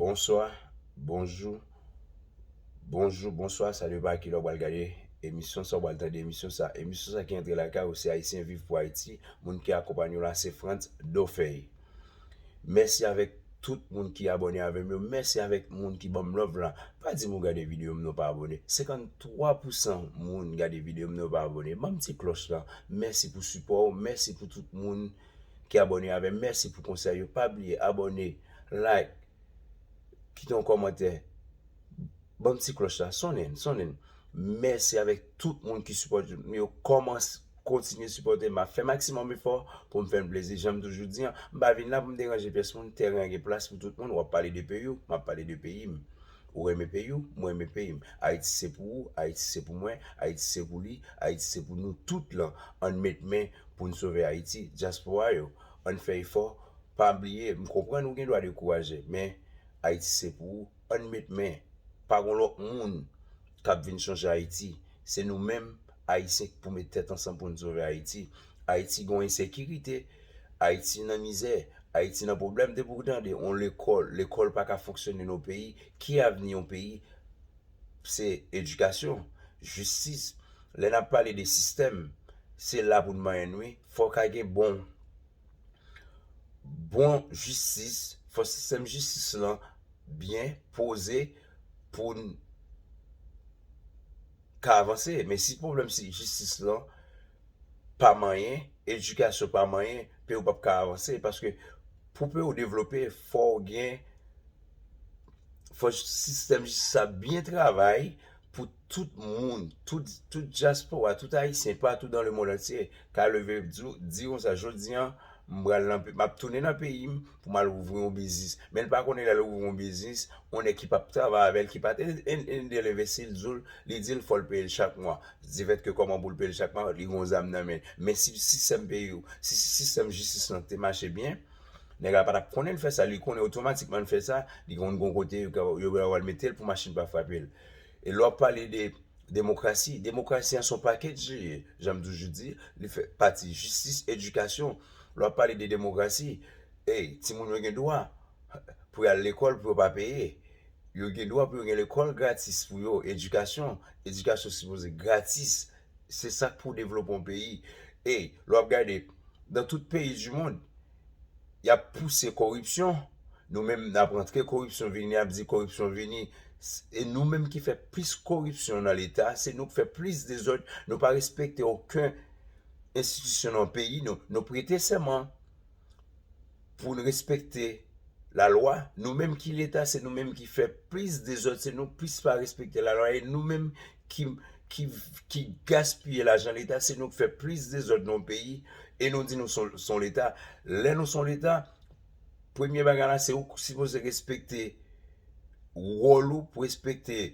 Bonswa, bonjou, bonjou, bonswa, sa depan a kilè ou pral gade emisyon sa, ou pral tande emisyon sa. Emisyon sa ki antre lakay ou se Ayisyen Viv pou Ayiti, moun ki akonpanye w la se Frantz Dofey. Mèsi avèk tout moun ki abòne avè m yo, mèsi avèk moun ki ban m love la. Pa di m ou gade videyo m nan ou pa abòne, 53 pousan moun gade videyo m nan yo pa abòne. Ban m ti klòch lan, mèsi pou sipò ou, mèsi pou tout moun. ki abòne avèm mèsi pou konsèy yo pa bliye abòne like kite yon kòmantè banm ti klòch la sonnen sonnen mèsi avèk tout moun ki sipòte m yo kòmanc kontinye sipòtem map fè maksimòm efò poum fèn plezi janm toujou di an m pa vin la poum deranje pyès moun tèren an gen plas pou tout moun wap pale de peyiw map pale de peyim. Ou renmen peyi w, mwen renmen peyi m. Ayiti se pou ou, Ayiti se pou mwen, Ayiti se pou li, Ayiti se pou nou tout lan. Ann met men pou n sove Ayiti. Dyaspora yo, ann fè efò. Pa bliye, m konprann ou gen dwa dekouraje, men Ayiti se pou ou. Ann met men. Pa gon lòt moun k ap vin chanje Ayiti. Se nou menm Ayisyen k pou met tèt ansanm pou n sove Ayiti. Ayiti gen yon ensekirite, Ayiti nan mizè, Ayiti nan pwoblèm, depi ou tande yon lekòl, lekòl pa ka fonksyone nan yon peyi, ki avni yon peyi? Se edikasyon, jistis, lè n ap pale de sistèm, se la pou n manyen wi, fò ka gen bon, bon jistis, fò sistèm jistis lan byen poze pou n ka avanse, men si pwoblèm jistis lan. pa manyen, edikasyon pa manyen, peyi w pap ka avanse paske pou peyi w devlope fò w gen, fò sistèm jistis la byen travay pou tout moun, tout dyaspora, tout ayisyen patou dan lemond antye ka leve di konsa jodi an m pral nan peyi m, m ap tounen nan peyi m, pou mal ouvri yon biznis men li pa konnen lèl ouvri yon biznis yon nèg ki pap travay avèl ki pat edel envesti li dil li dil fòl peyel chak mwa divèt ke kòman poul peyel chak mwa li gen yon zam nan menl men si sistèm peyi yo si sistèm jistis lan te mache byen nèg la patap konnenl fè sa li konnen otomatikman li fè sa li konn gon kote yo pral metel pou machin pa frapel e lè wap pale de demokrasi demokrasi an son pakèt je ye janm toujou di li fè pati jistis edikasyon Lè w ap pale de demokrasi, ey, timoun yo gen dwa pou y al lekòl pou yo pa peye. Yo gen dwa pou yo gen lekòl gratis pou yo, edikasyon, edikasyon sipoze gratis. Se sa k pou devlope yon peyi. Ey, lè w ap gade, nan tout peyi dimond, y ap pouse koripsyon, nou menm n ap antre koripsyon vini, n ap di koripsyon vini. E nou menm ki fè plis koripsyon nan Leta, se nou k fè plis dezòd, nou pa respekte oken. enstitisyon nan peyi nou, nou prete sèman pou n respekte lalwa, nou menm ki leta se nou menm ki fè plis dezòd, se nou plis pa respekte lalwa e nou menm ki gaspiye lajan leta, se nou k fè plis dezòd nan peyi e nou di nou son leta, lè nou son leta premye bagay la se ou ki sipoze respekte wòl ou pou respekte.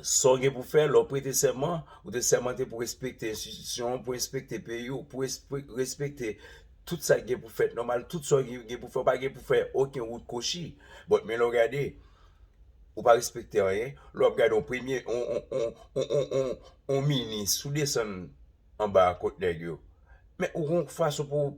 Sa w gen pou fè, Lè w prete sèman, ou te sèmante pou respekte enstitisyon an, pou respekte peyi w, pou respekte tout sa ki gen pou fèt nòmal, tout sa w gen pou fè, ou pa gen pou fè oken wout kwochi. Bòt men lè w gade, ou pa respekte anyen, lè w ap gade yon premye, yon minis, si w desann. anba kot nèg yo. Men ou gon fason pou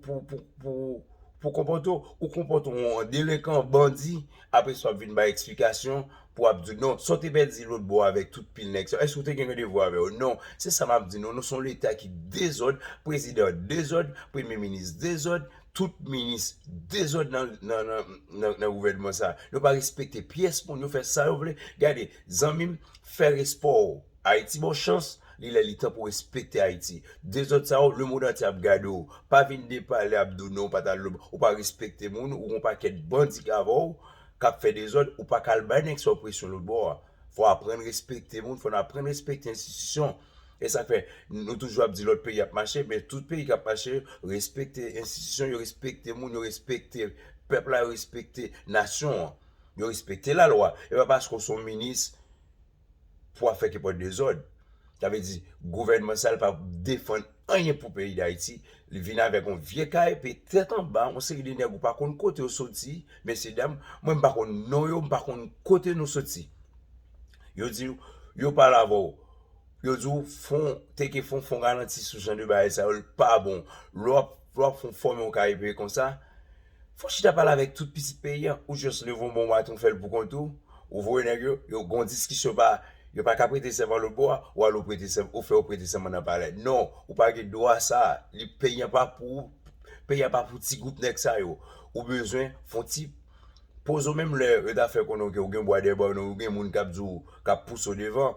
pou konpòte w, ou konpòte w an delenkan, bandi, apre sa w ap vin bay eksplikasyon pou w ap di non, sa w te pèdi lòt bò avèk tout pil nèg sa yo, èske w te gen yon devwa avè yo? Non, se sa m ap di nou, nou se yon leta ki dezòd, prezidan dezòd, premye minis dezòd, tout minis dezòd nan gouvènman sa. Yo pa respekte pyès moun, yo fè sa yo vle. Gade, zanmi m, fè respè w. Ayiti bon chans li lè li tan pou respekte ayiti dezòd sa yo lemond antye ap gade w pa vin depale ap do non w pat al lob ou pa respekte moun ou gon pakèt bandi k avè w kap fè dezòd ou paka al bay nèg sa w presyon lotbò a fò aprann respekte moun fò n aprann respekte enstitisyon esak fè nou toujou ap di lòt peyi ap mache men tout peyi kap mache respekte enstitisyon yo respekte moun yo respekte pèp la yo respekte nasyon an yo respekte lalwa epa paske w son minis pou ap fè kipòt dezòd. Sa vle di gouvènman sa l pa defann anyen pou peyi Dayiti, li vin avèk yon vye kay, pi tèt anba yon seri de nèg ou pa konn kote yo soti, mesye dam, mwen m pa konn non yo, m pa konn kote nou soti. Yo di w, yo pale avè w, yo di w fon, teke fon, fon ralanti sou jan de bagay sa yo, l pa bon. Lè w ap fon fòme yon kay epi konsa. Fon chita pale avèk tout pitit peyi an ou just leve yon bon baton fèl pou kont ou, ou voye nèg yo, yo gon diskisyon pa yo paka prete sèman lòt bò a, ou al ou prete sèman ou fè yo prete sèman nan palè non ou pa gen dwa sa li peyi an pa pou ou peyi an pa pou ti gwoup nèg sa yo ou bezwen fon ti poze w menm lè yo ta fè konnen w ke ou gen bwa dèyè ba w nan ou gen moun kap di w kap pouse w devan.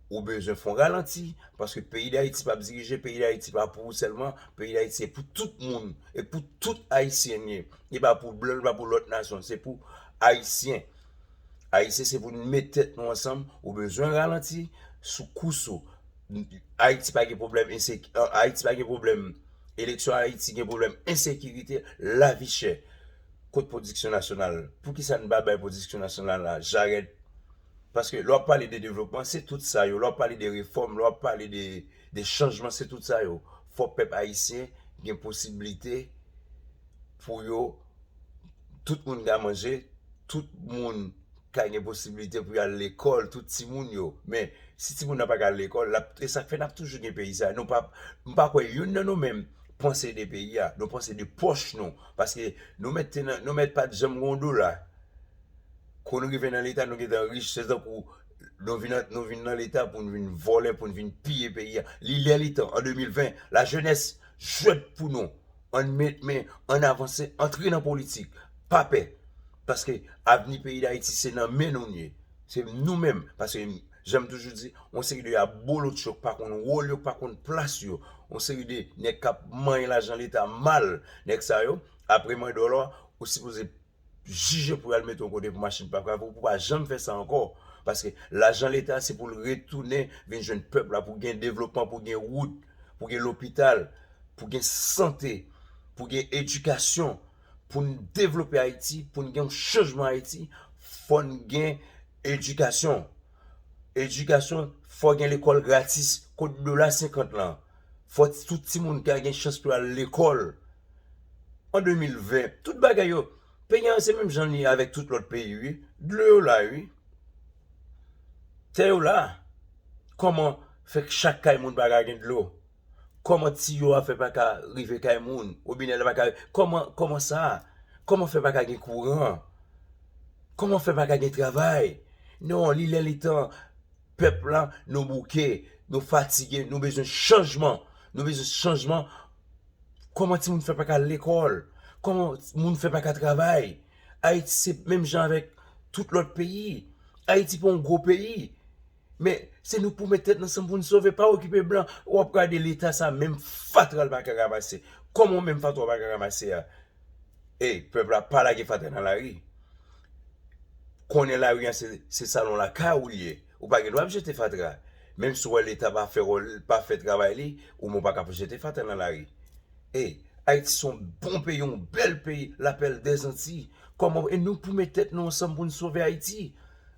Ou bezwen fon ralanti paske peyi dayiti pap dirije peyi dayiti pa pou ou selman peyi dayiti se pou tout moun e pou tout ayisyen li ye li pa pou blan li pa pou lot nasyon se pou ayisyen ayisyen se pou nou met tet nou ansanm ou bezwen ralanti sou kous ou ayiti pa gen pwoblèm enseki ayiti pa gen pwoblèm eleksyon ayiti gen pwoblèm ensekirite lavi chè kot pwodiksyon nasyonal poukisa nou pa bay pwodiksyon nasyonal la jarèt Paske lè wap pale de devlopman se tout sa yo, lè wap pale de refòm, lè wap pale de chanjman se tout sa yo. Fò pèp ayisyen gen posiblite pou yo, tout moun ka manje, tout moun ka gen posiblite pou yo al lekòl, tout timoun yo. Men, si timoun nan pa ka al lekòl, l ap, e sa k fè n ap toujou gen peyi sa a. Nou pa, m pa kwè youn nan nou menm panse de peyi a. Nou panse de pòch nou. Paske nou mèt te nan, nou mèt pat janm gen yon dola. Kou nou rive nan leta nou gentan rich se tankou nou vin nou vin nan leta pou nou vin vòlè pou nou vin piye peyi a li lè li tan an 2020 la jenès jwèt pou nou ann met men ann avanse antre nan politik pa pè paske avni peyi dayiti se nan men nou li ye se nou menm paske jan m toujou di yon seri de abolotcho k pa konn wòl yo k pa konn plas yo yon seri de nèg k ap manyen lajan leta mal nèg sa yo apre mandòlò ou sipoze jije pou yal mete yon kote pou machin pa pran pou pou pa janm fè sa ankò paske lajan leta se pou l retounen vin jwenn pèp la pou gen devlopman pou gen wout pou gen lopital pou gen sante pou gen edikasyon pou n devlope ayiti pou n gen yon chanjman ayiti fò n gen edikasyon Edikasyon, fò gen lekòl gratis, kot dola 50 lan? Fò tout timoun ka gen chans pou yo al lekòl. An 2020, tout bagay yo, peyi an se menm jan li ye avèk tout lòt peyi wi, dlo yo la wi, tè yo la, kòman fè chak kay moun pa ka gen dlo? Koman tiyo a fè paka rive kay moun? Robinè la paka rive? Koman, koman sa? Koman fè paka gen kouran? Koman fè paka gen travay? Non, li lè li tan, pèp la nou bouke, nou fatige, nou bezwen chanjman, nou bezwen chanjman. Koman timoun fè paka al lekòl? Koman moun fè paka travay? Ayiti se menm jan avèk tout lòt peyi. Ayiti pa yon gwo peyi. Men se nou pou met tèt nou ansanm pou nou sove pa okipe blan wap gade leta sa menm fatra li paka ramase kòm ou menm fatra ou paka ramase a ey pèp la pa lage fatra nan lari konnen lari an se salon lakay ou li ye ou pa gen dwa ap jete fatra menm si ou wè leta pa fè wòl li pa fè travay li ou menm ou paka ap jete fatra nan lari ey ayiti son bon peyi yon bèl peyi lapèl dèzantiy kòman e nou pou met tèt nou ansanm pou nou sove ayiti.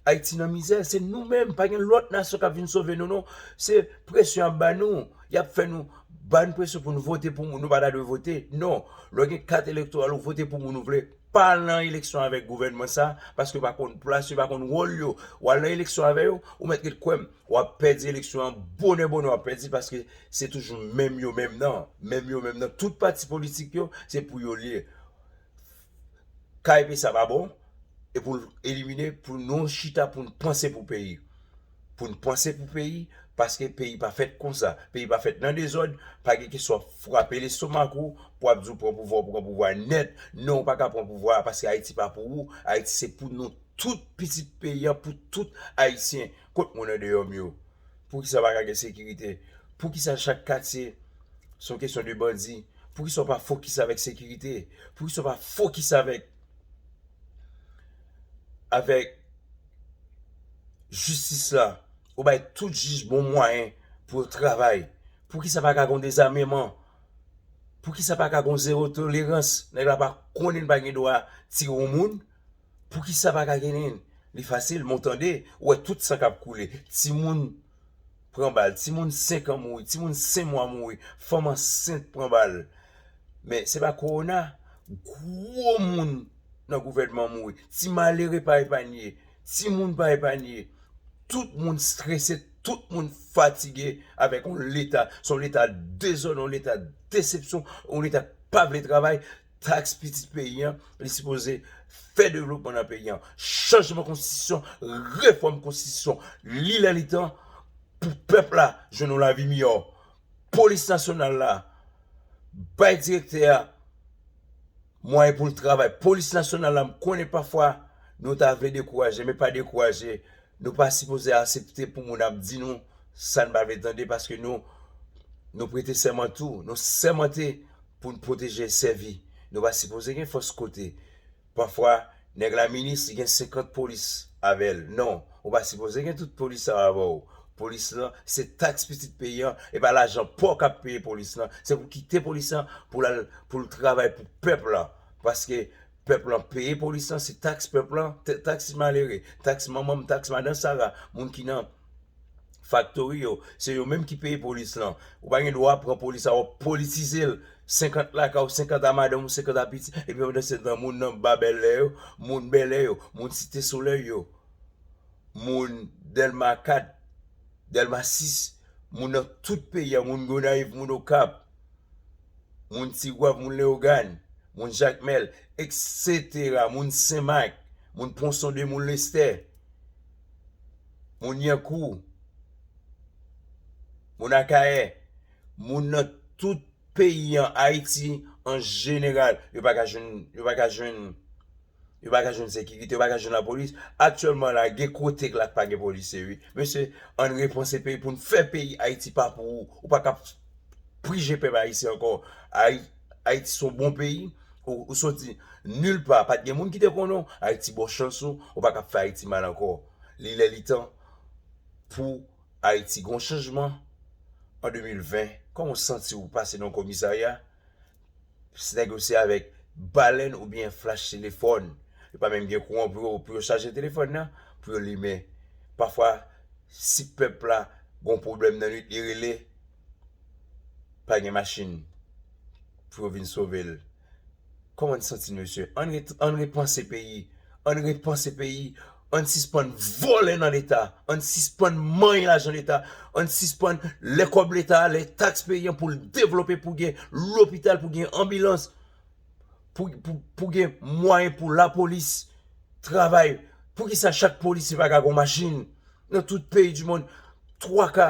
Ayiti nan mizè se nou menm pa gen lòt nasyon kap vin sove nou non se presyon yap ba nou yap fè nou bann presyon pou nou vote pou moun nou pa ta dwe vote non lè w gen kat elektoral ou vote pou moun ou vle pa al nan eleksyon avèk gouvènman sa paske yo pa konn plas yo pa konn wòl yo wa al nan eleksyon avè yo ou mèt ret kwè m wap pèdi eleksyon an bonè bonè wap pèdi l paske se toujou menm yo menm nan menm yo menm nan tout pati politik yo se pou yo l ye. Kay pesa pa bon e pou l elimine pou nou chita pou n panse pou peyi pou n panse pou peyi paske peyi pa fèt konsa peyi pa fèt nan dezòd pa gen kesyon wap frape lestomak ou pou ap di w pran pouvwa ou pran pouvwa nèt non ou pa ka pran pouvwa a paske ayiti pa pou ou ayiti se pou nou tout pitit peyi an pou tout ayisyen kot moun andeyò m yo. Poukisa pa ka gen sekirite? Poukisa chak katye se yon kesyon de bandi? Poukisa ou pa fokis avèk sekirite? Poukisa ou pa fokis avèk avèk jistis la? Ou bay tout jij bon mwayen pou yo travay. Poukisa pa ka gen yon dezameman? Poukisa pa ka gen yon zewo tolerans? Nèg la pa konnen li pa gen dwa tire yon moun. Poukisa pa ka genyn li fasil men w tande ou wè tout san kap koule timoun pran bal timoun 5 an mouri timoun 5 mwa mouri fanm ansent pran bal men se pa kowona gwo moun nan gouvènman mouri ti malere pa epanye timoun pa epanye tout moun strese tout moun fatige avèk yon leta son leta dezòd yon leta desepsyon yon leta k pa vle travay Tax pitit peyi an, li sipoze fè devlopman nan peyi an. Chanjman konstitisyon, refòm konstitisyon, li lè li tan pou pèp la jwenn yon lavi miyò. Polis nasyonal la, bay direktè a mwayen pou l travay. Polis nasyonal la, m konnen pafwa nou ta vle dekouraje, men pa dekouraje. Nou pa sipoze asepte pou moun ap di nou sa n pa vle tande paske nou prete sèman tou. Nou sèmante Pou n pwoteje e sèvi, nou pa sipoze gen fòs kote. Pafwa, nèg la minis, li gen 50 polis avè l. Non, ou pa sipoze gen tout polis sa yo avè w. Polis lan, se taks pitit peyi an, e pa lajan pa w k ap peye polis lan. Se pou w kite polis lan pou l al pou l travay pou pèp lan. Paske. Pèp lan peye polis lan se taks pèp lan, taks malere, taks manman m, taks madan sara, moun ki nan faktori yo, se yo menm ki peye polis lan. Ou pa gen dwa pran polis la wap politize l, 50 lakay ou, 50 a madanm ou, 50 a pitit, epi pandan se tan moun nan ba bèlè yo, moun bèlè yo, moun site solèy yo, moun dèlma 4, dèlma 6, moun nan tout peyi a, moun gonayiv, moun okap. moun Tigwav, moun Leyogàn, moun Jakmèl, eksetera, moun Senmak, moun Ponson 2, moun Lestè, moun Lyankou, moun Akayè, moun nan tout peyi an, Ayiti an jeneral, yo pa ka jwenn. Yo pa ka jwenn sekirite, yo pa ka jwenn lapolis. Aktyèlman la, gen kote la k pa gen polisye wi. Mesye, ann repanse peyi pou n fè peyi Ayiti pa pou ou. Ou pa ka prije pèp ayisyen ankò. Ayiti se yon bon peyi. Ou soti nil pa, pa t gen moun ki te konnen w. Ayiti ba w chans ou. Ou pa ka fè Ayiti mal ankò. Li lè li tan pou Ayiti gen yon chanjman an 2020. Kòman w santi w pase nan yon komisarya? se nèg yo se avèk balèn oubyen flash telefòn, yo pa menm gen kouran pou yo pou yo chaje telefòn nan, pou yo limen. Pafwa si pèp la gon pwoblèm nan nwit li rele, pa gen machin pou yo vin sove l. Kòman n santi n mesye? An n repanse peyi, an n repanse peyi. Ann sispann vòlè nan leta, ann sispann manyen lajan leta, ann sispann lè kòb leta, lè taks peyan poul devlope pou gen lopital, pou gen anbilans, pou gen mwayen pou lapolis travay. Poukisa chak polisye pa ka gon machin? Nan tout peyi di mond 3 ka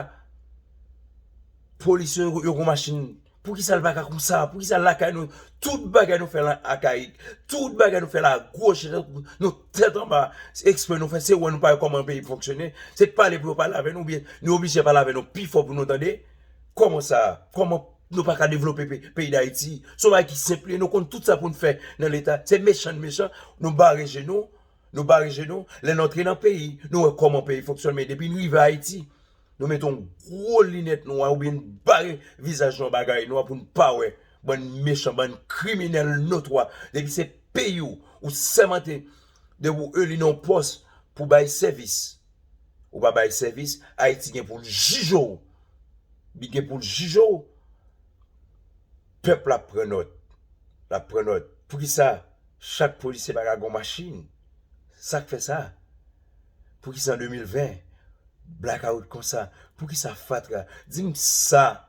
polisye yo gon machin. Poukisa l pa ka konsa? Poukisa lakay nou tout bagay nou fè l akayik? Tout bagay nou fè l agoch, nou tèt anba, se eksprè nou fè, se wè nou pa wè kòman peyi fonksyone, se t pale pou yo pale avè nou oubyen nou oblije pale avè nou pi fò pou nou tande? Kòman sa? Kòman nou pa ka devlope peyi dayiti? Se yon bagay ki senp li, nou konn tout sa pou n fè nan leta, se mechan n mechan, nou bare je nou, nou bare je nou, lè n antre nan peyi, nou wè kòman peyi fonksyone men depi n rive ayiti, Nou met yon gwo linèt nwa oubyen n bare vizaj nou an bagay nwa pou n pa wè. Bann mechan, bann kriminèl notwa. Depi se peyi w, ou sèmante depi w eli nan yon pòs pou bay sèvis. Ou pa bay sèvis, Ayiti gen pou l jije w. Li gen pou l jije w. Pèp la ap pran nòt. L ap pran nòt. Poukisa chak polisye pa ka gen yon machin? Sa k fè sa? Poukisa an 2020 blakawout konsa, poukisa fatra, di m sa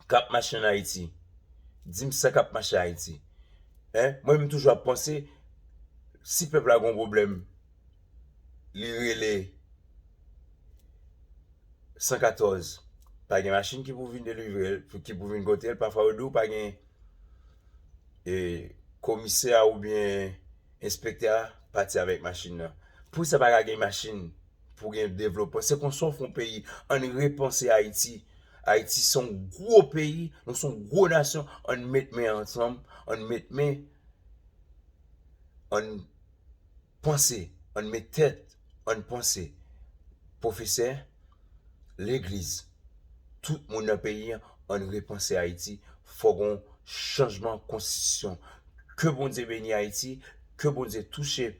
k ap mache ann Ayiti, di m sa k ap mache Ayiti. Mwen menm m toujou ap panse si pèp la gen yon pwoblèm li rele 114 pa gen machin ki pou vin delivre l, ki pou vin pote l, pafwa yo di w pa gen komisè oubyen. Enspektè a pati avèk machin nan. Pou sa pa ka gen machin, pou gen devlopman. Se konsa w fè yon peyi. An n repanse Ayiti. Ayiti se yon gwo peyi, nou se yon gwo nasyon. An n met men ansanm, an n met men, an n panse, an n met tèt, an n panse. Pwofesè, legliz, tout moun nan peyi an, ann repanse Ayiti, fò gon chanjman konstitisyon. Ke Bondye beni Ayiti, ke Bondye touche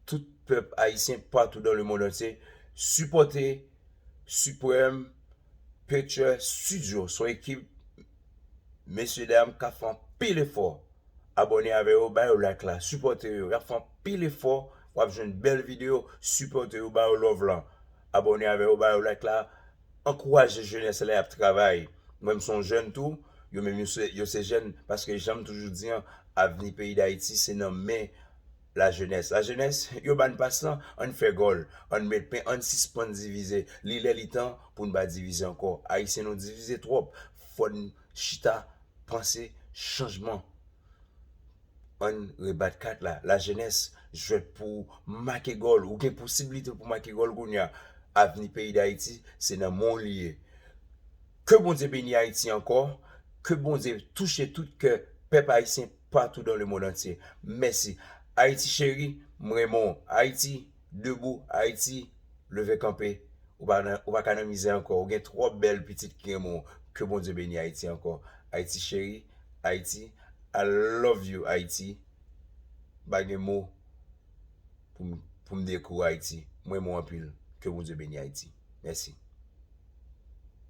tout pèp ayisyen patou dan le mond antye. Sipòte Supreme Picture Studio, son ekip mesye dam kap fè anpil efò. Abòne avè yo, ba yo like la, sipòte yo, yap fè anpil efò, wap jwenn bèl video, sipòte yo, ba yo love lan. abòne avè yo ba yo like la ankouraje jenès la yap travay mwen m son jèn tou yo menm yo se jèn paske janm toujou di an avni peyi dayiti se nan men la jenès la jenès yo bann pas lan ann fè gòl ann met pen ann sispann divize li lè li tan pou n pa divize ankò ayisyen nou divize twòp fòn chita panse chanjman. Ann rebat kat la, la jenès, jwèt pou make gòl, ou gen posibilite pou make gòl kounye a, avni peyi Dayiti se nan men w li ye. Ke Bondye beni Ayiti ankò, ke Bondye touche tout kè pèp ayisyen patou dan le mond antye. Mèsi Ayiti cheri, m renmen w Ayiti. Debou Haiti leve kanpe ou pa nan ou pa ka nan mizè ankò ou gen twòp bèl pitit ki renmen w ke Bondye beni Haiti ankò Haiti cheri Haiti I love you Haiti m pa gen mo pou m pou m dekri w Haiti m renmen w anpil ke Bondye beni Haiti mèsi.